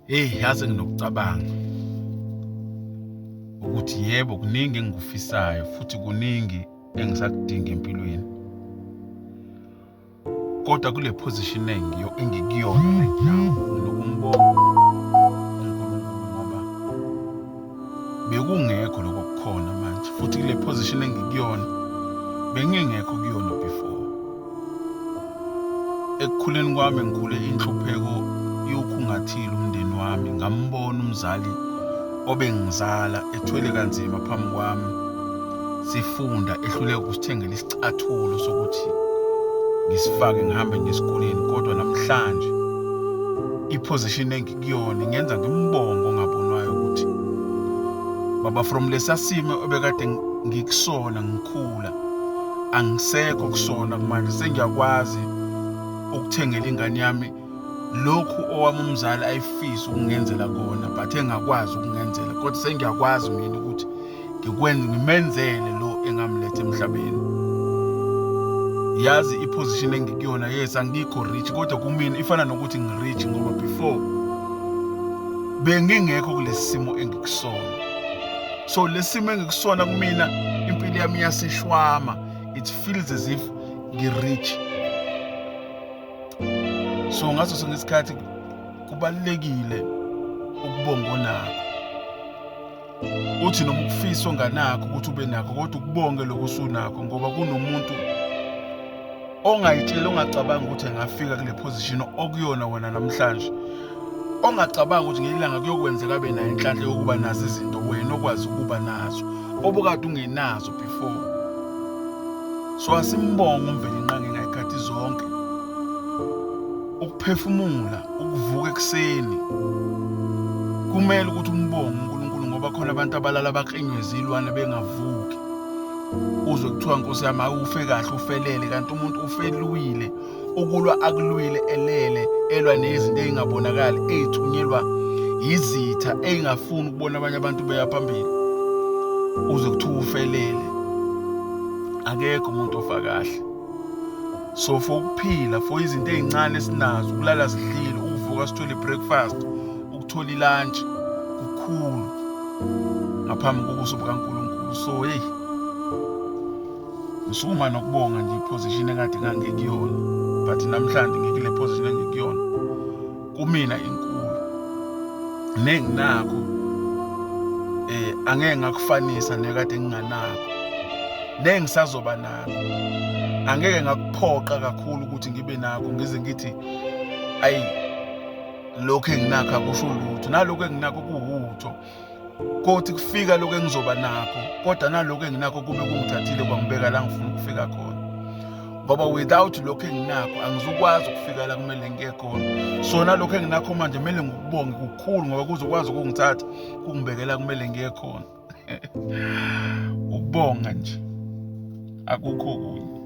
hey yazi nginokucabanga ukuthi yebo kuningi engikufisayo futhi kuningi engisakudinga empilweni kodwa kule position engiyo engikuyona right now nginokumbonga bekungekho lokho kukhona manje futhi kule position engikuyona bengingekho kuyona Ekukhuleni kwami ngikhule inhlupheko iwukhungathile umndeni wami ngambona umzali obengizala ethwele kanzima phambi kwami sifunda ehluleka ukusithengela isicathulo sokuthi ngisifake ngihambe ngesikoleni kodwa namhlanje iposition engikuyona ngenza ngimbongo ongabonwayo ukuthi baba from lesasimo obekade ngikusona ngikhula angisekho kusona manje sengiyakwazi ukuthengela ingane yami lokhu owami umzali ayifisa ukungenzela kona but engakwazi ukungenzela kodwa sengiyakwazi mina ukuthi ngikwenze ngimenzele lo engamlethe emhlabeni yazi iposition engikuyona yes angikho rich kodwa kumina ifana nokuthi ngirich ngoba before bengingekho kulesi simo engikusona so lesimo engikusona kumina impilo yami iyasishwama it feels as if ngi-rich so ngaso sonke isikhathi kubalulekile ukubonga onakho uthi noma ukufisa onganakho ukuthi ube nakho kodwa ukubonge lokho usunakho ngoba kunomuntu ongayitsheli ongacabanga ukuthi engafika kule position okuyona wena namhlanje ongacabanga ukuthi ngelanga kuyokwenzeka abe nayo inhlanhla yokuba nazo izinto wena okwazi ukuba nazo obukade ungenazo before so asimbonga umveli inqange ngayikhathi zonke ukuphefumula ukuvuka ekuseni kumele ukuthi umbonge uNkulunkulu ngoba khona abantu abalala baklinywe zilwane bengavuki uzwe kuthiwa nkosi yami awufe kahle ufelele kanti umuntu ufelwile ukulwa akulwile elele elwa nezinto ezingabonakali ezithunyelwa yizitha ezingafuni ukubona abanye abantu beya phambili uze kuthiwa ufelele akekho umuntu ofa kahle so for ukuphila for izinto ezincane esinazo ukulala zidlile ukuvuka sithole breakfast ukuthola ilantshi kukhulu ngaphambi kobuso bukaNkulunkulu so hey ngisukuma nokubonga nje iposition ekade ngangikuyona but namhlanje ngikule position engikuyona kumina inkulu nenginakho eh angeke ngakufanisa nekade nginganakho nengisazoba nakho angeke ngakuphoqa kakhulu ukuthi ngibe nakho ngize ngithi ayi lokhu enginakho akusho lutho nalokhu enginakho kuwutho kothi kufika lokhu engizoba nakho kodwa nalokhu enginakho kube kungithathile kwangibeka la ngifuna ukufika khona ngoba without lokhu enginakho angizukwazi ukufika la kumele ngiye khona so nalokhu enginakho manje kumele ngikubonge kukhulu ngoba kuzokwazi ukungithatha kungibekela kumele ngiye khona ukubonga nje akukho kunye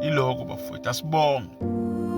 iloko bafowethu asibonge